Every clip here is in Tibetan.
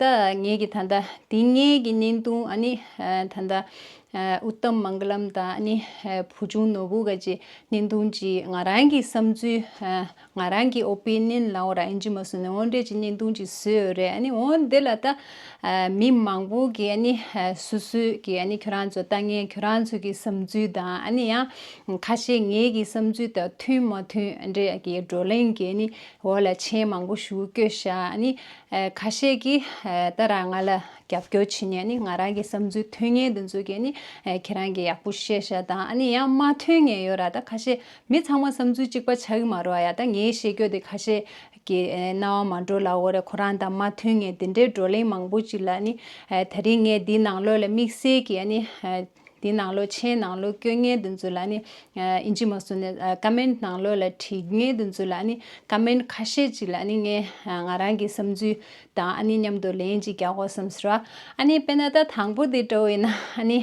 ད་ངེད་ཀྱི་ད་ལྟ་དེ་སྔའི་གྱི་བརྙན་ཐུང་ཨ་ནི་ད་ལྟ། Uttam Mangalam། དང་ཨ་ནི་བུ་ཆུང་ནོར་བུ་འགའ་ཅིག་བརྙན་ཐུང་གཅིག་ང་རང་གི་བསམ་ཚུལ། ང་རང་གི Opinion ལའོ་ར་ཨེན་ཇི་མ་སུ་ནས་འོང་འདྲའི་གཅིག་བརྙན་ཐུང་གཅིག་བཟོས་ཡོད་རེད་ཨ་ནི་འོང་འདི་ལ་ད། མི་མང་པོ་གི་ཨ་ནི་སུ་སུ་གི་ཨ་ནི་ཁྱོད་རང་ཚོ་ལྟ་ངན་ཁྱོད་རང་ཚོ་གི་བསམ་ཚུལ་དང་ཨ་ནི་ཡང་ཁ་ཤས་ངེད་ཀྱི་བསམ་ཚུལ་དང་མཐུན་མ་མཐུན་འདྲའི་གི་བགྲོ་གླེང་གི་ཨ་ནི་འོག་ལ་མཆན་མང་པོ་ཞུ་སྐྱོད་ཤག་ཨ་ནི། ཁ་ཤས་ཀྱིས་ད་རང་ང་ལ་རྒྱབ་སྐྱོར་བྱེད་ནས་ནི་ང་རང་གི་བསམ་ཚུལ་མཐུན་ངེས་དེ་ཚོ་གས་ནི་ཁྱེད་རང་གི་ཡག་པོ་བཤད་ཤག་དང་ཨ་ནི་ཡང་མ་མཐུན་ངེས་ཡོད་ར་ད་ཁ་ཤས་མི་ཚང་མ་བསམ་ཚུལ་གཅིག་པ་ཆགས་ཀྱི་མ་རོ་ཨ་ཡ་ད་ངའི་བཤད་རྒྱོ་དེ་ཁ་ཤས་ཀྱི་རྣ་བ་མ་འགྲོ་ལ་འོ་རེ་ཁོ་རང་དང་མ་མཐུན་ངེས་དེ་འདྲའི་བགྲོ་གླེང་མང་པོ་ཅིག་ལ་ནི་ད་རིང་ངས་འདི་ནང་ལོས་ལ་དམིགས་བསལ་གྱིས་ཨ་ནི་འདི་གནང་ལོ་མཆན་གནང་ལོ་བཀོད་ངལ་དུ་འཛུལ་ལ་ནི། ཨིན་ཇི་མ་བཟོ་ནས Comment གནང་ལོ་ལ་བྲིས་ངལ་དུ་འཛུལ་ལ་ནི Comment ཁ་ཤས་ཅིག་ལ་ནི་ངས་ང་རང་གི་བསམ་ཚུལ་དང་ཨ་ནི་མཉམ་དུ་ལན་ཅིག་རྒྱག་གོ་བསམས་ཟེར། ཨ་ནི་དཔེར་ན་ད་དང་པོ་དེ་འདྲ་བས་ན་ཨ་ནི།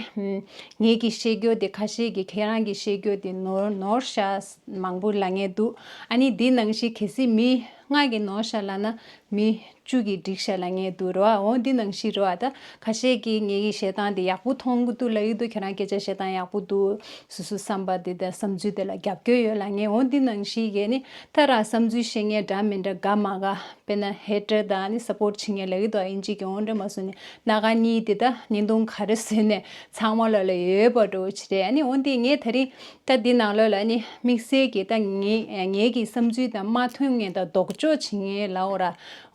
ངེད་ཀྱི་བཤད་རྒྱུ་དེ་ཁ་ཤས་ཀྱིས་ཁྱེད་རང་གི་བཤད་རྒྱུ་དེ་ནོར་ནོར་ཤ་མང་པོ་ལ་ངེས་འདུག་ཨ་ནི་འདི་ནང་བཞིན་གལ་སྲིད་མི་ལྔ་གིས་ནོར་ཤ་ལ་ན་མི་བཅུད་ཀྱི་སྒྲིག་བཤད་ལ་ངས་དུ་རོ་ཨ་འོ་འདི་ནང་བཞིན་རེད་བ་ད་ཁ་ཤས་ཀྱིས་ངེད་ཀྱི་བཤད་སྟངས་དེ་ཡག་པོ་མཐོང་གི་འདུག་ལ་ཡུལ་དུ་ཁྱེད་རང་སྐད་ཆ་བཤད་སྟངས་ཡག་པོ་འདུག་སུ་སུ་བསམ་པ་དེ་དང་བསམ་ཚུལ་དེ་ལ་རྒྱབ་སྐྱོར་ཡོད་ལ་ངས་འོ་འདི་ནང་བཞིན་ཡས་ནི་ད་རང་བསམ་ཚུལ་བཤད་ངེས་འདྲ་མི་འདྲ་དགའ་མ་དགའ་དཔེར་ན་ཧེ་ཀྲེ་ད་ནི Support བྱེད་ངེས་ལ་ཡུལ་དུ་ཨ་ཡིན་གཅིག་གིས་འོ་འདྲ་མ་བཟོ་ནི་སྣ་ག་གཉིས་དེ་ད་ཉིན་ཐུང་ག་རེ་བཟོས་ནས་ཚང་མ་ལོག་ལ་ཡོད་པ་འགྲོ་བོ་ཆེ་རེད་ཨ་ནི་འོ་འདི་ངས་ད་རིང། ད་འདི་ནང་ལོས་ལ་ནི་དམིགས་བསལ་གྱིས་ད་ངེད་ཀྱི་བསམ་ཚུལ་དང་མ་མཐུན་ངེས་དང་ལྡོག་ཕྱོགས་བྱེད་ངེས་ལའོ་ར་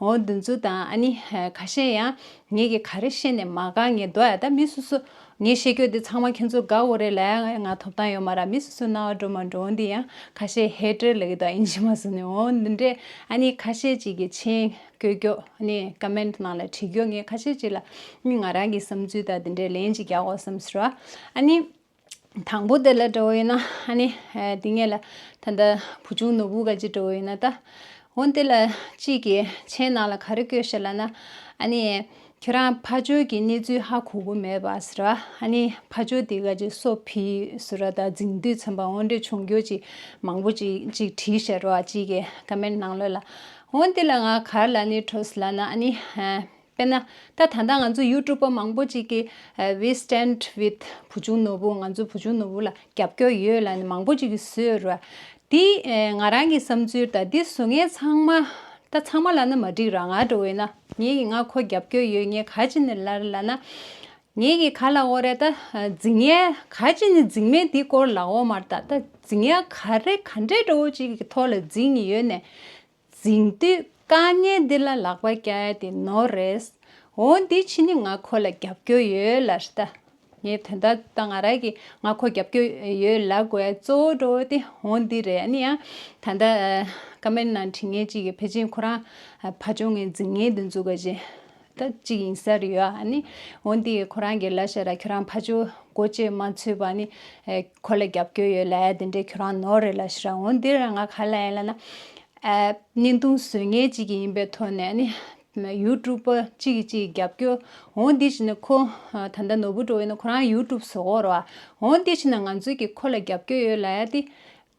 འོ་འདི་ཚོ་དང་ནི་ཁ་ཤས་ཡང་ངེད་ཀྱི་ག་རེ་ཤེས་ནས་མ་དགའ་ངེས་དོ་ཨ་ད་མི་སུ་སུ་ངས་ཤེས་ཁྱོད་འདི་ཚང་མ་ཁྱོད་ཚོ་དགའ་འོ་རེ་ལ་ང་ཐོབ་ཐང་ཡོད་མ་ར་མི་སུ་སུ་རྣ་བ་འགྲོ་མ་འགྲོ་འོ་འདི་ཡང་ཁ་ཤས་ཧེ་ཀྲེ་ལ་གི་དོ་ཨིན་ཇི་མ་སུ་ནི་འོ་འདི་འདྲས་ཨ་ནི་ཁ་ཤས་ཅིག་གི་མཆན་བཀོད་རྒྱོགས་ནི Comment ནང་ལ་བྲིས་རྒྱོགས་ངས་ཁ་ཤས་ཅིག་ལ་ནི་ང་རང་གི་བསམ་ཚུལ་དང་འདི་འདྲས་ལན་ཅིག་རྒྱག་འོ་བསམ་སུ་ར་ཨ་ནི། དང་པོ་དེ་ལ་འགྲོ་འོས་ན་ཨ་ནི། དེ་ངེད་ལ་ད་ལྟ་བུ་ཆུང་ནོར་བུ་ག་ཅིག་འགྲོ་འོས་ན་ད། འོན་ཏེ་ལ་གཅིག་གིས་ཁྱེད་ནང་ལ་ག་རེ་བསྐྱོད་ཤེས་ལ་ན། ཨ་ནི། ཁྱེད་རང་ཕ་ཇོ་གི་གནས་ཚུལ་ཧ་གོ་གོ་མེད་པ་ཟེར་བ། ཨ་ནི་ཕ་ཇོ་དེ་ག་ཅིག་སོ་ཕི་ཟེར་བ་ད་རྫིང་དུས་ཚན་པ་འོ་འདྲས་ཆུང་སྐྱོ་ཅིག་མང་པོ་ཅིག་ཅིག་བྲིས་ཤར་བ་གཅིག་གིས་ཀ་མེད་ནང་ལོས་ལ། འོན་ཏེ་ལ་ང་གར་ལ་ནི་བྲོས་ལ་ན་ཨ་ནི། དཔེར་ན། ད་ད་ལྟ་ང་ཚོ་ཡུ་ཀྲུབ་པ་མང་པོ་ཅིག་གིས We Stand With བུ་ཆུང་ནོར་བུ་ང་ཚོའི་བུ་ཆུང་ནོར་བུ་ལ་རྒྱབ་སྐྱོར་ཡོད་ལ་ནི་མང་པོ་ཅིག་གིས་བཟོས་ར། འདི་ང་རང་གི་བསམ་ཚུལ་དང་འདི་བཟོ་མཁན་ཚང་མ། ད་ཚང་མ་ལ་ནི་མ་འགྲིག་རང་ང་འགྲོ་འོས་ན། ངེད་ཀྱིས་ང་ཁོ་རྒྱབ་སྐྱོར་ཡོད་ངེད་ག་ཅི་ནི་ལར་ལ་ན། ངེད་ཀྱིས་ག་ལ་འོ་རེད་ད། རྫིག་ངན་ག་ཅི་ནི་རྫིག་མེད་འདི་སྐོར་ལ་འོ་མར་ད་ད་རྫིག་ངན་ག་རེ་ག་འདྲའི་འགྲོ་བོ་ཅིག་གི་ཐོག་ལ་རྫིག་ནི་ཡོད་ནས། འཛིང་དུས་དཀའ་ངལ་འདི་ལ་ལག་པ་བཀྱགས་ཏེ་ནོར་རེད། འོ་འདི་ཕྱི་ནི་ང་ཁོ་ལ་རྒྱབ་སྐྱོར་ཡོད་ལ་ལྟ། ངས་དོན་དག་ད་ང་རག་གི་ང་ཁོ་རྒྱབ་སྐྱོར་ཡོད་ལ་དགོས་གཙོ་བོ་འགྲོ་དེ་འོ་འདི་རེད་ཨ་ནི་ཡང་ད་ལྟ་ཀ་མེར་ནང་དྲི་ངན་ཅིག་གི་ཕེ་ཅིན་ཁོ་རང་ཕ་ཆོ་ངའི་འཛིང་ངན་འདི་འཛུགས་པ་བཞིན་དག་ཅིག་ཡིན་ས་རེད་ཡ་ནི། འོན་ཏེ་ཁོ་རང་གི་ལ་ཤ་ར་ཁྱོད་རང་ཕ་ཆོ་གོ་ཅེས་མ་འཚོས་པ་ནི། ཁོ་ལ་རྒྱབ་སྐྱོར་ཡོད་ལ་དེ་འདྲའི་ཁྱོད་རང་ནོར་རེད་ལ་ཤ་ར་ངོ་འདི་རང་ང་ག་ལ་ཡིན་ལ་ན། བརྙན་ཐུང་བཟོས་མཁན་ཅིག་ཡིན་པའི་ཐོག་ནས་ནི། ཡུ་ཀྲུབ་པ་ཅིག་གིས་ཅིག་རྒྱབ་སྐྱོར་འོང་དེ་ཕྱིན་ན་ཁོ་ད་ལྟ་ནོར་བུ་འགྲོ་ཡོད་ན་ཁོ་རང་ཡུ་ཀྲུབ་བཟོ་གོ་རོགས། འོང་དེ་ཕྱིན་ན་ང་ཚོས་ཀྱིས་ཁོ་ལ་རྒྱབ་སྐྱོར་ཡོད་ལ་ཡ་དེ།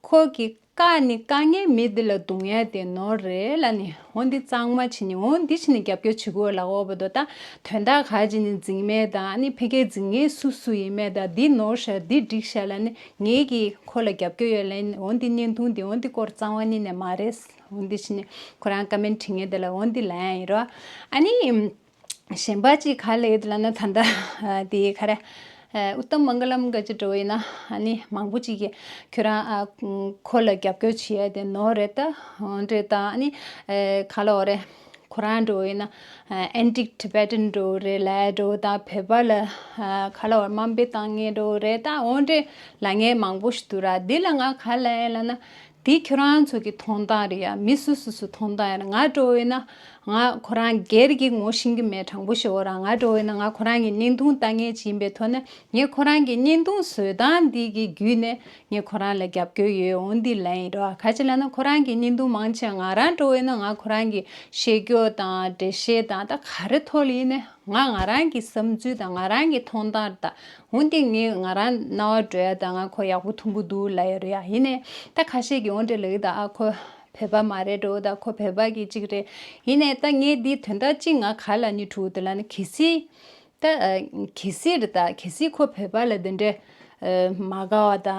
ཁོ་གི་བཀའ་ནི་བཀའ་ངན་མི་འདི་ལ་སྡུག་བསྔལ་དེ་ནོར་རེ་ལ་ནི་འོ་འདི་གཙང་མ་བྱི་ནི་འོ་འདི་བྱི་ནི་རྒྱབ་སྐྱོར་བྱི་གོ་ལ་འོ་བ་དོ་ད་དོན་དག་ག་བྱི་ནི་འཛིང་མེད་དང་ཨ་ནི་ཕི་གའི་འཛིང་ངེ་སུ་སུ་ཡི་མེད་ད་འདི་ནོར་ཤ་འདི་སྒྲིག་ཤ་ལ་ནི་ངེ་གི་ཁོ་ལ་རྒྱབ་སྐྱོར་ཡོད་ལ་ཡིན་འོ་འདི་བརྙན་ཐུང་འདི་འོ་འདི་སྐོར་གཙང་བ་ནི་ནས་མ་རེད་འོ་འདི་བྱི་ནི་ཁོ་རང་བཀའ་མེན་དྲི་ངན་དེ་ལ་འོ་འདི་ལ་ཡང་ཡིན་རོ་ཨ་ནི། གཞན་པ་ཅིག་ག་ལས་ལ་ན་ད་འདའ། དེ་ག་རེ། ཨུཏྟམ་མངྒ་ལམ་འགའ་ཅི་འགྲོ་བས་ན་ནི་མང་པོ་ཅིག་གིས་ཁྱོད་རང་ཁོ་ལ་རྒྱབ་སྐྱོར་བྱེད་ཡ་དེ་ནོར་རེད་ད། འདྲེ་ད་ནི་ག་ལའོ་རེད། ཁོ་རང་འགྲོ་བས་ན Antique Tibetan འགྲོ་རེད་ལ་འགྲོ་ད་བོད་པ་ལ་ག་ལའོ་རེ་དམའ་འབེབས་བཏང་ངེས་འགྲོ་རེད་ད་འོ་འདྲེ་ལ་ངས་མང་པོ་ཞིག་བསྡུ་ར་དེ་ལ་ང་ག་ལའེ་ལ་ན་དེ་ཁྱོད་རང་ཚོ་གི་ཐོང་ཐང་རེད་ཡ་མི་སུ་སུ་སུ་ཐོང་ཐང་ཡིན་ང་ཀྲོ་བོའི་ན་ང་ཁོ་རང་སྒེར་གྱི་ངོ་ཤེས་གི་མེད་དྲང་པོ་ཤོད་རང་ང་ཀྲོ་བོའི་ན་ང་ཁོ་རང་གི་བརྙན་ཐུང་ལྟ་ངེས་ཅི་ཡིན་པའི་ཐོག་ན་ངས་ཁོ་རང་གི་བརྙན་ཐུང་བཟོས་སྟངས་འདི་གི་བརྒྱུད་ནས་ངས་ཁོ་རང་ལ་རྒྱབ་སྐྱོར་ཡོད་འོང་འདི་ལན་ཡིན་རོ་ག་ཅི་ལ་ན་ཁོ་རང་གི་བརྙན་ཐུང་མང་ཆེ་བ་ང་རང་ཀྲོ་བོའི་ན་ང་ཁོ་རང་གི་བཤད་སྐྱོར་དང་འགྲེལ་བཤད་དང་ད་ག་རེ་ཐོག་ལ་ཡིན་ནས་ང་ང་རང་གི་བསམ་ཚུལ་དང་ང་རང་གི་ཐོང་ཐང་ར་དང། འོན་ཏེ་ངས་ང་རང་རྣ་བ་བྲོས་ཡ་ད་ང་ཁོ་ཡག་པོ་ཐུང་པོ་འདུག་ལ་ཡ་རེད་ཡ་ཡིན་ནས་ད་ཁ་ཤས་ཀྱི་འོན་ཏེ་ལེགས་ད་ཨ་ཁོ་བོད་པ་མ་རེད་འགྲོ་ད་ཁོ་བོད་པ་གི་གཅིག་རེད་ཡིན་ནས་ད་ངས་འདིའི་དོན་དག་གཅིག་ང་ག་ལ་ནི་ཐུག་དེ་ལ་ནི་གལ་སྲིད་ད་གལ་སྲིད་རེད་ད་གལ་སྲིད་ཁོ་བོད་པ་ལ་དེ་འདྲའི་མ་དགའ་བ་ད་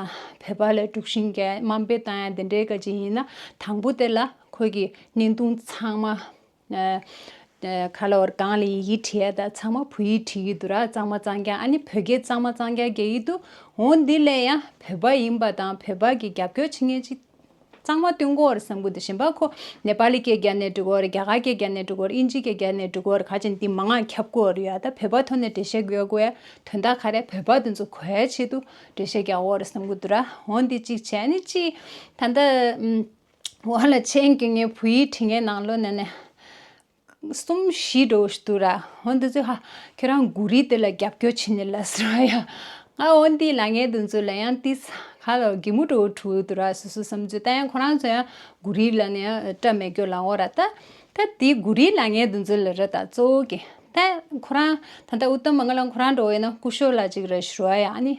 བོད་པ་ལ་དཀྲུགས་ཤིང་རྒྱ་དམའ་འབེབས་བཏང་ཡ་དེ་འདྲའི་ག་གཅིག་ཡིན་ན་དང་པོ་དེ་ལ་ཁོ་གི་བརྙན་ཐུང་ཚང་མ། ག་ལ་བར་གངས་ལ་ཡི་གེ་བྲིས་ཡ་ད་ཚང་མ་བོད་ཡིག་བྲིས་ཡི་འདུག་ར་གཙང་མ་གཙང་རྐྱང་ཨ་ནི་བོད་སྐད་གཙང་མ་གཙང་རྐྱང་རྒྱག་ཡི་འདུག་འོ་འདི་ལས་ཡང་བོད་པ་ཡིན་པ་དང་བོད་པ་གི་རྒྱབ་སྐྱོར་བྱེད་མཁན་ཅིག་གཙང་མ་བསྟུན་གོ་ར་སང་གུ་དེ་བཞིན་པ་ཁོ་ནེ་པ་ལི་སྐད་རྒྱ་ནས་འབྲི་གོ་ར་རྒྱ་གར་སྐད་རྒྱ་ནས་འབྲི་གོ་ར་ཨིན་ཇི་སྐད་རྒྱ་ནས་འབྲི་གོ་ར་ག་ཅིག་འདི་མ་ངག་ཁྱབ་གོ་ར་ཡོད་ཡ་ད་བོད་པ་ཐོ་ནས་འབྲེལ་བཤད་གོ་ཡ་དོན་དག་ག་རེ་བོད་པ་དེ་ཚོ་གོ་ཡའི་ཆེད་དུ་འབྲེལ་བཤད་རྒྱག་གོ་ར་སང་གུ་དུ་ར་འོ་འདི་གཅིག་བྱས་ཨ་ནི་གཅིག་ད་ད། བ་ལ་ཆེན་གྱི་ངའི་བུ་ཡིས་དྲི་ངའི་ནང་ལོ་ནས་ནས། གསུམ་བཞི་དྲོ་དུ་ར་འོ་འདི་ཚོས་ཧ། ཁྱོད་རང་མགུ་རིས་དེ་ལ་རྒྱབ་སྐྱོར་བྱེད་ནི་ལ་ཟེར་བ་ཡ། ང་འོ་འདིའི་ལ་ངའི་དུ་ཚོས་ལ་ཡང་ཏིས། ཁ་ལོ་གི་མུ་དྲོ་དྲུ་དུ་ར་སུ་སུ་བསམ་ཚོད་ལྟ་ཡང་ཁོ་རང་ཚོ་ཡང་མགུ་རིས་ལ་ནས་སྐྲ་མེད་སྐྱོ་ལ་འོ་ར་ལྟ། ད་དེ་མགུ་རིས་ལ་ངའི་དུ་ཚོས་ལ་ར་ད་གཙོ་བོ་གི། ད་ཁོ་རང་ད་ད་འུ་ཏམ་མ་ང་ལ་ཁོ་རང་འགྲོ་བས་ན་སྐུ་ཤོ་ལ་ཅིག་ར་ཞུ་ར་ཡ་ཨ་ནི།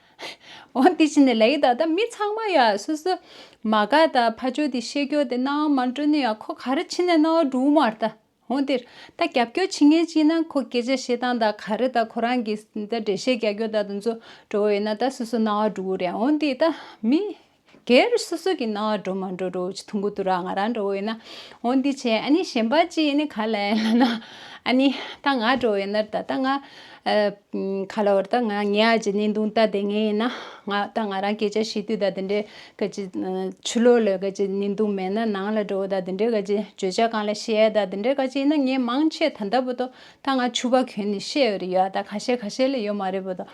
འོན་དེ་བཞིན་ལས་ཀྱི་ད་ལྟ་མི་ཚང་མ་ཡང་སོ་སོའི་མ་ག་དང་ཕ་ཆོས་དེ་ཤེས་ཀྱོ་དེ་སྣང་བ་མ་འགྲོ་ནི་ཡང་ཁོ་ག་རེ་ཕྱི་ནས་སྣང་བ་འགྲོ་མ་ད་འོན་དེ་ད་རྒྱབ་སྐྱོ་བྱེད་ངེས་ཅི་ན་ཁོ་སྐད་ཆ་བཤད་སྟངས་དང་ག་རེ་ད་ཁོ་རང་གིས་ད་འགྲེལ་བཤད་རྒྱག་ཀྱོ་ད་དུ་འཛོ་འགྲོ་བ་ཡོད་ན་ད་སོ་སོ་སྣང་བ་འགྲོ་གི་རེད་འོན་དེ་ད་མི་སྒེར་སོ་སོ་གི་ནང་འགྲོ་མ་འགྲོ་རུ་ཆུ་འཐུང་གི་འདུག་ར་ང་རང་འགྲོ་འོས་ན་འོ་འདི་བྱས་ཨ་ནི་གཞན་པ་ཅིག་ནི་ག་ལ་ཡིན་ལ་ན་ཨ་ནི་ད་ང་འགྲོ་འོས་ན་ད་ད་ང་ག་ལ་འོར་ད་ང་ངའི་ཨ་ཅེ་ནི་འདུག་ད་དེ་ངས་ཡིན་ན་ང་ད་ང་རང་སྐད་ཆ་ཤི་དུས་ད་དེ་འདྲའི་ག་ཅི་ཆུ་ལོག་ལོས་ག་ཅི་ནི་འདུག་མེད་ན་ནང་ལ་འགྲོ་ད་དེ་འདྲའི་ག་ཅི་བརྗོད་བྱ་གང་ལ་ཤེས་ཨ་ད་དེ་འདྲའི་ག་ཅི་ཡིན་ན་ངས་མང་ཆེས་ད་ད་པོ་ཏོ་ད་ང་ཆུ་བ་གོན་ནི་ཤེས་འོས་རེ་ཡོད་ཨ་ད་ག་ཤེད་ག་ཤེད་ལ་ཡོད་མ་རེད་པོ་ཏོ།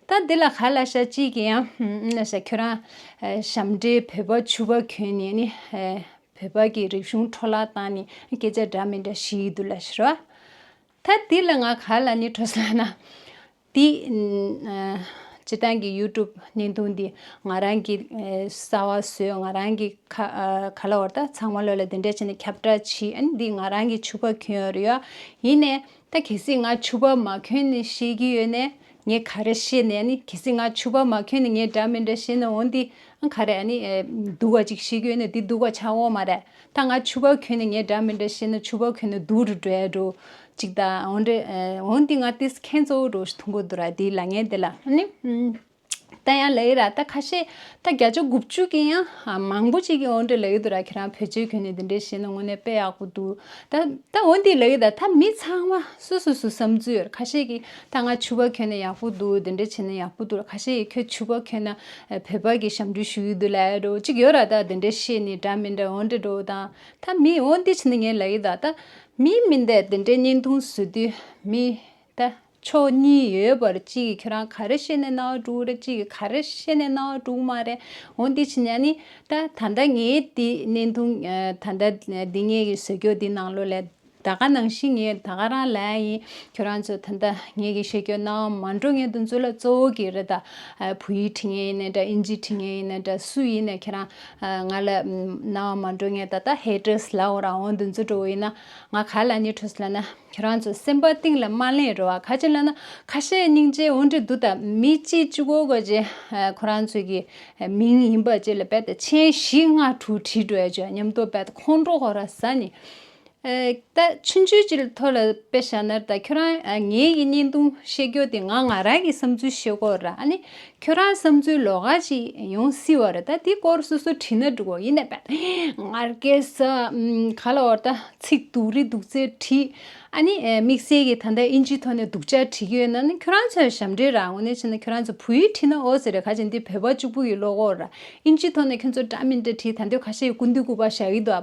ད་འདི་ལ་ག་ལ་ཤ་གཅིག་གི་ཡང་ན་ཤ་ཁྱོད་རང་ཞབས་འདྲེ་བོད་པ་ཆུ་བ་གྱོན་ནས་ནི་བོད་པ་གི་རིག་གཞུང་འཕྲོ་བརླག་བཏང་ནི་སྐད་ཆ་འདྲ་མི་འདྲ་ཞིག་འདུག་ལ་ཤི་རོ། ད་འདི་ལ་ང་ག་ལ་ནི་ཁྲོ་སོང་ན། འདི་སྤྱི་བཏང་གི་ཡུ་ཀྲུབ་བརྙན་ཐུང་འདི་ང་རང་གི་ས་བ་བཟོས་ང་རང་གི་ག་ལ་བར་ད་ཚང་མ་ལོས་ལ་འདི་འདྲ་བྱས་ནས་ཁྱབ་བསྒྲགས་བྱེད་ཨ་ནི་འདི་ང་རང་གི་ཆུ་བ་གྱོན་ཡོད་རེད་ཡོད་ཡིན་ནས་ད་གལ་སྲིད་ང་ཆུ་བ་མ་གྱོན་ནི་ཤེས་ཀྱི་ཡོད་ནས་ངས་ག་རེ་བཤད་ནས་ནི་གལ་སྲིད་ང་ཆུ་བ་མ་ཁྱོད་ནི་ངའི་འདྲ་མི་འདྲ་བཤད་ནས་འོན་ཏེ་ག་རེ་ནི་དུ་བ་ཅིག་བཤད་ཁྱོད་ནི་དེ་དུ་བ་ཆགས་འོང་མ་རེད་ད་ང་ཆུ་བ་ཁྱོད་ནི་ངའི་འདྲ་མི་འདྲ་བཤད་ནས་ཆུ་བ་ཁྱོད་ནི་དུ་རུ་འགྲོ་ཡ་འགྲོ་ཅིག་ད་འོན་ཏེ་འོན་ཏེ་ང་དེ་ཁན་གཙོ་བོ་རུ་ཐུང་པོ་དུ་ར་དེའི་ལ་ངན་དེ་ལ་ནི་ད་ཡང་ལ་ཡི་ར་ད་ཁ་ཤས་ད་བརྒྱ་ཆ་དགུ་བཅུ་གི་ཡང་མང་པོ་ཅིག་གི་འོན་ཏེ་ལ་ཡི་དུ་ར་ཁྱེད་རང་བོད་ཆས་ཁྱོད་ནི་དེ་འདྲས་བཤད་ནས་དངོས་གནས་དཔེ་ཡག་པོ་འདུག་ད་འོན་ཏེ་ལ་ཡི་ད་ད་མི་ཚང་མ་སུ་སུ་སུ་བསམ་ཚུལ་ཡོད་རེད་ཁ་ཤས་ཀྱི་ད་ང་ཆུ་བ་གྱོན་ན་ཡག་པོ་འདུག་དེ་འདྲ་བྱས་ན་ཡག་པོ་འདུག་ག་ཤེད་ཁྱོད་ཆུ་བ་གྱོན་ན་བོད་པ་གི་ཞབས་འདྲུད་ཞུ་ཡི་འདུག་ལ་ཡ་འགྲོ་གཅིག་ཡོད་ར་ད་དེ་འདྲ་བཤད་ནི་དྲ་མི་འདྲ་འོ་འདྲ་འགྲོ་དང་ད་མི་འོ་འདི་བྱས་ན་ངས་ལ་ཡི་ད་ད་མི་མི་འདས་དེ་འདྲ་བརྙན་ཐུང་བཟོ་དུས་མི་ད་ཕྱོགས་གཉིས་ཡོད་པར་གཅིག་གི་ཁྱོད་རང་ག་རེ་བཤད་ནས་གནའ་བ་དཀྲུག་ར་གཅིག་གི་ག་རེ་བཤད་ནས་གནའ་བ་དཀྲུག་མ་རེ་འོ་འདི་བྱས་ན་ནི་ད་ད་ད་ངས་དེ་བརྙན་ཐུང་ད་ད་འདི་ངས་གི་བཟོ་ཁྱོད་དེ་ནང་ལོ་ལས། ད་ག་ནང་བཞིན་ངས་ད་ག་རང་ལ་ཡིན་ཁྱོད་རང་ཚོ་ད་ལྟ་ངེད་ཀྱི་ཤེས་ཀྱོ་ནང་མ་འགྲོ་ངེད་དུ་འཛུལ་ལ་གཙོ་བོ་གི་རེད་ད་བུ་ཡིས་ཁྲིད་ངེས་ཡིན་ནའི་འདྲ་ཨིན་ཇིས་ཁྲིད་ངེས་ཡིན་ནའི་འདྲ་སུ་ཡིན་ནའི་ཁྱེད་རང་ང་ལ་ནང་མ་འགྲོ་ངས་ད་ལྟ་ཧེ་ཀྲེས་ལ་འོང་རང་འོང་དུ་འཛུལ་འགྲོ་བོ་ཡིན་ན་ང་ག་ལ་ནི་ཁྲོས་ལ་ན་ཁྱོད་རང་ཚོ་སེམས་པ་གཏིང་ལ་མ་ལེན་རོ་ཨ་ཁ་ཅི་ལ་ན་ཁ་ཤས་སྙིང་རྗེ་འོང་གྲི་འདུག་ད་མི་གཅིག་གཅིག་གོ་གོ་ཅི་ཁོ་རང་ཚོ་གི་མིང་ཡིན་པ་ཅི་ལ་བད་ད་ཆེན་བཞི་ལྔ་དྲུག་བྲིས་འགྲོ་ཨེ་ཅོ་སྙམ་དུ་བད་ད་ཁོང་ཁྲོ་ཧོ་ར་ས་ནི། ད་ཕྱིན་ཆོད་ཅིག་ཐོ་ལ་པེ་ཤ་ནར་ད་ཁྱོད་རང་ངའི་ཡི་སྙིང་དུང་བཤད་རྒྱུ་དེ་ང་ང་རང་གི་བསམ་ཚུལ་བཤད་སྐོར་ར་ཨ་ནི་ཁྱོད་རང་བསམ་ཚུལ་ལོག་ག་ཅིག་ཡོང་སྲིད་བ་རེད་ད་དེ་སྐོར་སོ་སོ་བྲིས་ན་འགྲིག་གོ་ཡིན་ནའི་བན་ངར་སྐད་ས་ག་ལ་བོར་ད་ཚིག་དུག་རི་དུག་རྩེ་བྲིས་ཨ་ནི་དམིགས་བསལ་གྱི་ད་ལྟ་ཨིན་ཇིའི་ཐོག་ནས་དུག་ཅག་བྲིས་ཀྱི་ཡོད་ན་ནི་ཁྱོད་རང་ཚོའི་ཞབས་འདྲེན་ར་ངོ་ནས་བྱས་ན་ཁྱོད་རང་ཚོ་བུ་ཡིག་བྲིས་ན་ཨོ་ཟེར་རེ་ག་ཅིག་འདི་བོད་པ་གཅིག་པུ་ཡི་བློ་ཁོག་ར་ཨིན་ཇིའི་ཐོག་ནས་ཁྱོད་ཚོ་འདྲ་མི་འདྲ་བྲིས་ད་འདོད་ག་ཤེད་ཀུན་འདུས་སྐུ་པར་བཞག་གི་འདུག་ཨ་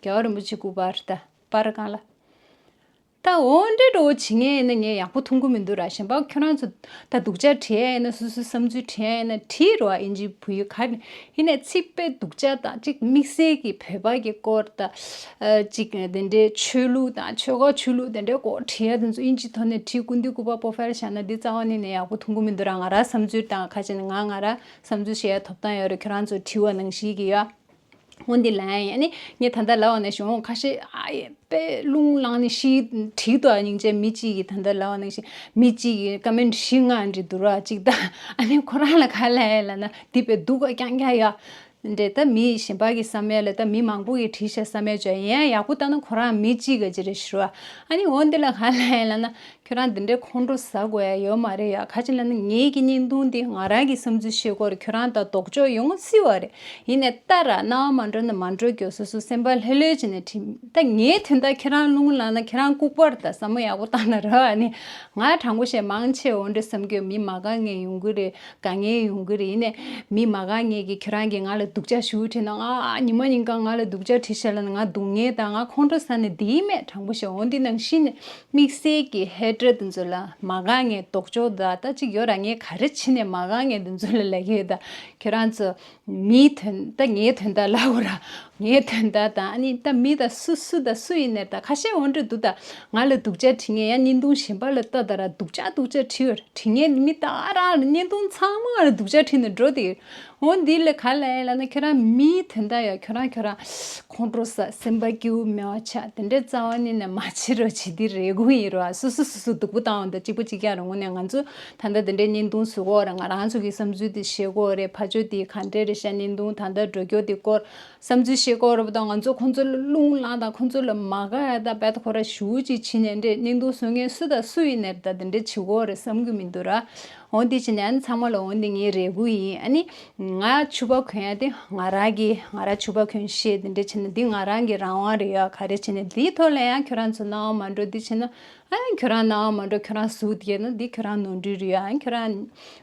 རྒྱལ་བ་རིན་པོ་ཆེ་སྐུ་པར་ལྟ་པར་དཀའ་ལ། ད་འོ་འདྲེ་འགྲོ་བོ་བྱེད་ངེས་ཡིན་ན་ངས་ཡག་པོ་འཐུང་གི་མི་འདུག་ར་ཞེན་པག་ཁྱོད་རང་ཚོ་ད་སྡུག་ཅག་བྲིས་ཡ་ཡིན་ན་སོ་སོའི་བསམ་ཚུལ་བྲིས་ཡ་ཡིན་ན་བྲིས་རོགས་ཨིན་ཇིའི་བུ་ཡུལ་ག་ནས་ཡིན་ནས་ཚིག་དཔེ་སྡུག་ཅག་དང་གཅིག་དམིགས་བསལ་གྱི་བོད་པ་གི་སྐོར་དང། གཅིག་དེ་འདྲའི་ཆོས་ལུགས་དང་ཆོལ་ཁ་ཆོས་ལུགས་དེ་འདྲའི་སྐོར་བྲིས་ཡ་དེ་ཚོ་ཨིན་ཇིའི་ཐོག་ནས་བྲིས་སྐུ་འདི་སྐུ་པར་པོ་ཕེལ་བཞག་ན་འདི་རྩ་བ་ནས་ནས་ཡག་པོ་འཐུང་གི་མི་འདུག་ར་ང་ར་བསམ་ཚུལ་དང་ཁ་ཅིག་ནས་ང་ང་ར་བསམ་ཚུལ་བཤད་ཡ་ཐོབ་ཐང་ཡོད་རེད་ཁྱོད་རང་ཚོ་བྲིས་བ་ནང་བཞིན་གྱི་ཡོད། ཧོ་འདི་ལ་ཡང་ནི་ངས་ད་ལྟ་ལ་བ་ནས་ཞུ་འོང་ཁ་ཤས་ཨ་ཡེ་པེ་ལུང་གླང་ནི་ཤིའི་དྲིའི་ཏོ་ཨ་ཉིང་ཅན་མི་གཅིག་གིས་ད་ལྟ་ལ་བ་ནང་བཞིན་མི་གཅིག་གིས་ཀ་མེན་བཞི་ལྔ་འདྲི་འདུག་ར་གཅིག་ད་ཨ་ནི་ཁོ་རང་ལ་ག་ལ་ཡ་ལ་ན་འདི་པེ་སྡུག་ག་ཀྱང་ཀྱང་ཡ། འདྲེ་ད་མི་གཞན་པ་གི་ས་མེ་ལ་ད་མི་མང་པོ་གི་དྲི་ཤ་ས་མེ་བྱོ་ཡ་ཡག་པོ་ད་ན་ཁོ་རང་མི་གཅིག་ག་ཅི་རེ་ཞུ་ར་ཨ་ནི་ཧོ་འདི་ལ་ག་ལ་ཡ་ལ་ན་ཁྱོད་རང་འདི་འདྲའི་ཁོང་ཁྲོ་ཟ་དགོས་ཡ་ཡོད་མ་རེད་ཡ་ཁ་ཅིག་ལ་ནི་ངེད་ཀྱི་བརྙན་ཐུང་འདིས་ང་རང་གི་བསམ་ཚུལ་ཤེས་སྐོར་ཁྱོད་རང་དང་དོགས་འཇོག་ཡོང་ངོ་སྲིད་བ་རེད། ཡིན་ནས་ད་ར་རྣ་བ་མ་འགྲོ་ན་མ་འགྲོ་གྱོ་སོ་སོའི་སེམས་པ་ལྷོད་ལྷོད་ཀྱིས་ནས་དྲིས། ད་ངས་དོན་དག་ཁྱེད་རང་བླུན་གུ་ལངས་ན་ཁྱེད་རང་ལྐུགས་པར་དང་ཟ་མོ་ཡག་པོ་བཏང་ན་ར་བ་ནི། ང་དྲང་པོ་བཤད་མང་ཆེ་འོ་འདྲི་བསམ་གྱོ་མི་མ་ག་ངས་ཡོང་གི་རེད་ག་ངས་ཡོང་གི་རེད་ཡིན་ནས་མི་མ་ག་ངས་ཀྱིས་ཁྱོད་རང་གིས་ང་ལ་སྡུག་ཅག་ཞུ་དྲིས་ན་ང་ཉིན་མ་ཉིན་གང་ང་ལ་སྡུག་ཅག་དྲིས་བྱས་ལ་ནི་ང་སྡུག་བསྔལ་དང་ང་ཁོང་ཁྲོ་ཟ་ནས་བསྡད་ཡིན་མེད་དྲང་པོ་བཤད་འོ་འདི་ནང་བཞིན་ནས་དམིགས་བསལ་གྱི་ཧེ་བགྲོད་འདི་ཚོ་ལ་མ་དགའ་ངའི་ལྡོག་ཕྱོགས་ད་ལྟ་གཅིག་ཡོད་ར་ངས་ག་རེ་བྱེད་ནས་མ་དགའ་ངའི་འདི་ཚོ་ལ་ལད་ཡོད་ད་ཁྱོད་རང་ཚོ་མིའི་དོན་ད་ངའི་དོན་ད་ལག་གོ་ར་ངའི་དོན་ད་ད་ཨ་ནི་ད་མི་ད་སུ་སུ་ད་སུ་ཡིན་ནས་ད་ཁ་ཤས་འོན་འགྲོ་འདུག་ད་ང་ལ་སྡུག་ཅག་དྲི་ངས་ཡ་བརྙན་ཐུང་གཞན་པ་ལ་ལྟ་ད་ར་སྡུག་ཅག་སྡུག་ཅག་དྲི་ཡོད་ར་དྲི་ངས་ནི་མི་ད་ཨ་ར་བརྙན་ཐུང་ཚང་མ་ང་ལ་སྡུག་ཅག་དྲི་ནས་འགྲོ་དེ་ཡོད་འོན་འདི་ལ་ག་ལ་ཡིན་ལ་ན་ཁྱོད་རང་མིའི་དོན་ད་ཡ་ཁྱོད་རང་ཁྱོད་རང། ཁོང་ཁྲོ་ས་སེམས་པ་སྐྱིའུ་མོ་ཆ་དེ་འདྲའི་རྩ་བ་ནི་ནས་མ་བྱེད་རོགས་བྱེད་དེ་རེད་དགོངས་ཡིན་རོགས་ཨ་སོ་སོ་སོ་སོ་སྡུག་པོ་བཏང་བ་འདུག་གཅིག་པོ་གཅིག་ཀྱང་རུང་ངོ་ནས་ང་ཚོ་ད་ལྟ་དེ་འདྲའི་བརྙན་ཐུང་བཟོས་གོ་རེད་ང་རང་ཚོ་གི་བསམ་ཚུལ་དེ་ཤེས་གོ་རེད་ཕ་ཆོས་དེ་ག་འདྲའི་རེད་ཤག་བརྙན་ཐུང་ད་ལྟ་འགྲོ་སྐྱོ་དེ་སྐོར་བསམ་ཚུལ་ཤེས་གོ་རེད་པ་དང་ང་ཚོ་ཁོང་ཚོ་ལ་རླུང་བླངས་དང་ཁོང་ཚོ་ལ་མ་དགའ་ཡ་དང་བད་ཁོ་ར་ཞུ་གཅིག་བྱེད་ནས་འདྲའི་བརྙན་ཐུང་བཟོ་མཁན་སུ་དང་སུ་ཡིན་ནས་ད་དེ་འདྲའི་བྱེད་གོ་རེད་བསམ་གི་མི་འདུག་ར། འོ་འདི་བྱིན་ནས་ཨ་ནི་ཚང་མ་ལ་འོ་འདི་ངའི་རས་གུར་ཡིན་ཨ་ནི། ང་ཕྱུ་པ་གོན་ཡ་དེ་ང་རང་གི་ང་རང་ཕྱུ་པ་གོན་ཞེས་འདི་འདྲས་བྱིན་ན་འདི་ང་རང་གི་རང་དབང་རེད་ཡ་ག་རེ་བྱིན་ནས་འདིའི་ཐོག་ལ་ཡང་ཁྱོད་རང་ཚོ་སྣང་བ་མ་འགྲོ་འདི་བྱིན་ན་ཨ་ཡང་ཁྱོད་རང་སྣང་བ་མ་འགྲོ་ཁྱོད་རང་གཟུགས་དགྱེས་ན་འདི་ཁྱོད་རང་ནོར་འཁྲུལ་རེད་ཡ་ཨ་ཁྱོད་རང་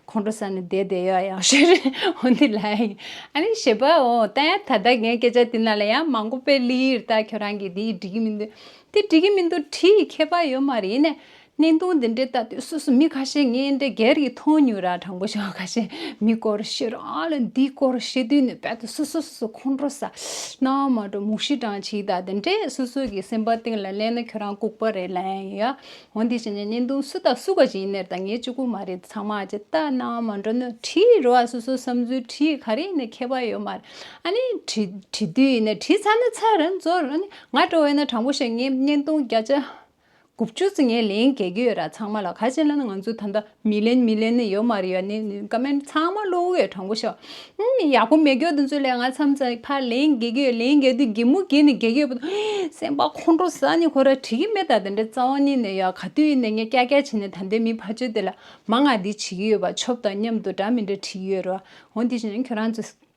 ཁོང་ཁྲོ་ས་ནས་བསྡད་བསྡད་ཡ་ཡང་ཞེས་རེད་འོ་འདི་ལ་ཡིན་ཨ་ནི་ཞེས་པའོ་ལྟ་ཡ་ད་ལྟ་ངས་སྐད་ཆ་འདི་ན་ལ་ཡང་མང་པོ་སྤེལ་ལིར་ལྟ་ཁྱོད་རང་གིས་འདི་འགྲིག་གི་མི་འདུག་འདི་འགྲིག་གི་མི་འདུག་བྲིས་ཁྱད་པར་ཡོད་མ་རེད་ནས་གནས་སྟངས་འདི་འདྲའི་ལྟ་དུས་སོ་སོ་མི་ཁ་ཤས་ངས་འདྲ་རྒྱལ་གྱི་ཐོང་ཉུལ་ར་དྲང་པོ་བྱོས་ཁ་ཤས་མི་སྐོར་བཤད་རོགས་ཨ་ལ་འདི་སྐོར་བཤད་དུས་ནས་བལ་དུ་སོ་སོ་སོ་སོ་ཁོང་ཁྲོ་ཟ། སྣང་བ་མ་འགྲོ་མུག་ཤི་གྲང་ཆིག་དག་འདི་འདྲས་སོ་སོ་གྱི་སེམས་པ་སྟེང་ལ་གླན་ན་ཁྱོད་རང་ལྐུག་པ་རེད་ལན་ཡོད་ཡ། འོ་འདི་བྱས་ན་གནས་སྟངས་སུ་དང་སུ་ག་གཅིག་ཡིན་ནེར་ད་ངས་གཅིག་པུ་མ་རེད་ཚང་མ་ཀྱི་ལྟ་སྣང་མ་འགྲོ་ནོ་བྲིས་རོ་ཨ་སོ་སོ་བསམ་ཚུལ་བྲིས་ག་རེ་ཡིན་ནེ་ཁྱད་པ་ཡོད་མ་རེད་ཨ་ནི་བྲིས་བྲིས་དུས་ཡིན་ནེ་བྲིས་ཚར་ན་ཚར་རན་ཚོར་རན་ནི་ང་འགྲོ་བས་ན་དྲང་པོ་བཤད་ངས་གནས་སྟངས་བརྒྱ་ཆ་དགུ་བཅུ་ཚེ་ངས་ལན་བརྒྱད་བརྒྱུད་ཡོད་ར་ཚང་མ་ལ་ཁ་ཆེ་ལ་ང་ཚོ་ད་ལྟ་མི་ལན་མི་ལན་ནི་ཡོད་མ་རེད་ཡ་ནི་ནི་ཀ་མན་ཚང་མ་བློ་འོད་དྲང་པོ་ཤོག་ཨི་ནི་ཡག་པོ་མེད་གྱོད་དུ་འཛུལ་ལས་ང་ཚམ་ཚ་ཕ་ལན་བརྒྱད་བརྒྱུད་ཡོད་ལན་བརྒྱད་དུས་བརྒྱད་མུ་བརྒྱད་ནི་བརྒྱད་བརྒྱུད་སེམས་པ་ཁོང་ཁྲོ་ཟ་ནི་ཁོ་ར་བྲིས་ཀྱི་མེད་ད་དེ་འདྲ་རྩ་བ་ནི་ནི་ཡ་ག་དུས་ཡིན་ནི་ངས་སྐྱ་སྐྱ་བྱས་ནི་ད་འདས་མི་ཕ་ཆོས་དེ་ལ་མ་ང་འདི་བྱེད་ཀྱི་ཡོད་པ་ཆོབ་དང་མཉམ་དུ་འདྲ་མི་འདྲ་བྲིས་ཡོད་ར་འོ་འདི་བྱས་ནི་ཁྱོད་རང་ཚོས་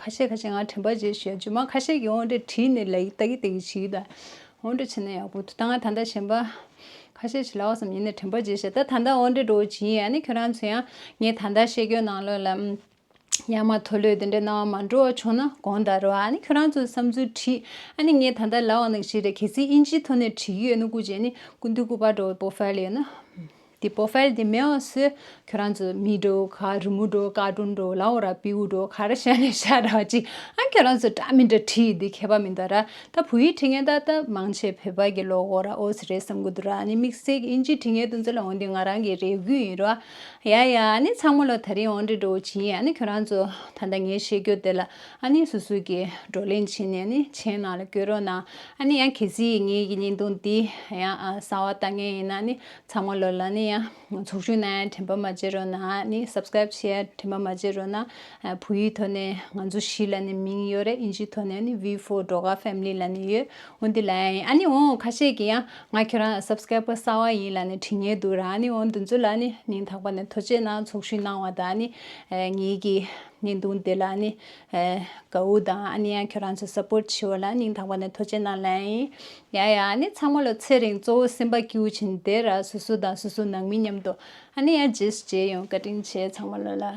ཁ་ཤས་ཁ་ཤས་ང་དྲན་པ་རྗེས་ཞུ་ཡ་ཇོ་མ་ཁ་ཤས་ཀྱི་ཨོང་སྒྲ་བྲིས་ནས་ལ་ཡིག་ལྟ་གི་ལྟ་གི་བྱེད་ཀྱི་ད་ཨོང་སྒྲ་བྱེད་ན་ཡག་པོ་འདུག་ད་ང་ད་ལྟ་གཞན་པ་ཁ་ཤས་བྱེད་ལ་ཨོ་སམ་ཡིན་ནས་དྲན་པ་རྗེས་ཞུ་ཡ་ད་ད་ལྟ་ཨོང་སྒྲ་འགྲོ་བ་ཇི་ཡིན་ཡ་ནི་ཁྱོད་རང་ཚོ་ཡང་ངས་ད་ལྟ་བཤད་རྒྱུ་ནང་ལོག་ལ་ཨུ་ཡ་མ་ཐོ་ལོས་དེ་འདྲའི་སྣང་བ་མ་འགྲོ་བ་བྱུང་ན་དགོངས་དག་རོགས་ཨ་ནི་ཁྱོད་རང་ཚོ་བསམ་ཚུལ་བྲིས་ཨ་ནི་ངས་ད་ལྟ་ལ་ཨོ་ནག་ཞིག་རེད་གལ་སྲིད་དབྱིན་ཇིའི་ཐོག་ནས་བྲིས་ཀྱི་ཡོད་ན་སྐུ་རྗེས་ནི་སྐུ་མདུན་སྐུ་པར་འགྲོ་བའི་པོ་ཧྥལ་ཡོད་ན། དེ་པོ་ཧྥལ་དེ་མེའོ་སི། ཁྱོད་རང་ཚོ་མི་འགྲོ་ག་རི་མོ་འགྲོ་ཀ་ཀྲུང་འགྲོ་ལ་འོ་ར་པིའུ་འགྲོ་ག་ར་ཤ་ནེ་ཤ་ར་ཅི་ཨང་ཁྱོད་རང་ཚོ་འདྲ་མི་འདྲ་བྲིས་འདི་མཁས་པ་མི་འདའ་ར་ད་བུ་ཡིག་བྲིས་ངན་ད་ད་མང་ཆེ་བོད་པ་གི་ལོ་འོ་ར་འོ་སི་རེད་བསམ་གི་འདུག་ར་ནི་མིག་སེག་ཨིན་ཇི་བྲིས་ངན་དུ་འཛོལ་ལ་འོ་འདི་ང་རང་གི་རེ་གུས་ཡིན་ར་ཡ་ཡ་ཨ་ནི་ཚང་མོ་ལ་ད་རིང་འོ་འདྲི་འགྲོ་འོ་ཇི་ཡིན་ཨ་ནི་ཁྱོད་རང་ཚོ་ད་ད་ངའི་བཤད་རྒྱུ་དེ་ལ་ཨ་ནི་སུ་སུ་གི་བགྲོ་གླེང་བྱེད་ནས་ཨ་ནི་མཆན་ནང་ལ་བསྐྱོད་རོགས་གནང་ཨ་ནི་ཡང་གལ་སྲིད་ངའི་གི་ཉིན་དུང་འདི་ཡང་གསང་བ་ལྟ་ངན་ཡིན་ན་ཨ་ནི་ཚང་མ་ལོ་ལ་ནི་ཡང་ཚོགས་ཆུང་ནས་དྲན་པ་མ་བརྗེད་རོགས་ན་ནི Subscribe བྱས་ཡ་དྲན་པ་མ་བརྗེད་རོགས་ན་བུ་ཡིག་ཐོག་ནས་ང་ཚོ་བཞི་ལ་ནི་མིང་ཡོད་རེད་ཨིན་ཇིའི་ཐོག་ནས་ནི Vee Four འགྲོ་ཁ Family ལ་ནི་ཡོད་འོན་ཏེ་ལ་ཡ་ཡིན་ཨ་ནི་འོང་ཁ་ཤས་ཀྱི་ཡ་ང་ཁྱོད་རང་ལ Subscribe བ་གསར་བ་ཡིན་ལ་ནི་དྲི་ངན་འདུག་ར་ཨ་ནི་འོང་འདུ་འཛོ་ལ་ནི་མིང་དག་པ་ནས་ཐོ་ཅེས་ན་ཚོགས་ཞུགས་གནང་བ་དང་ཨ་ནི་ངེད་ཀྱི་ནི་འདུག་འདི་ལ་ནི་གའུ་དང་ཨ་ནི་ཡང་ཁྱོད་རང་ཚོ Support བྱེད་བ་ལ་མིང་དག་པ་ནས་ཐོ་ཅེས་ན་ལ་ཡ་ཡིན་ཡང་ཡང་ཨ་ནི་ཚང་མ་ལོ་ཚེ་རིང་གཙོ་བོ་སེམས་པ་སྐྱིད་བོ་བྱིན་དེ་ར་སོ་སོ་དང་སོ་སོ་ནང་མི་མཉམ་དུ་ཨ་ནི་ཡར་རྗེས་སུ་མཇལ་ཡོང་བཀའ་དྲིན་ཆེ་ཚང་མ་ལོ་ལ།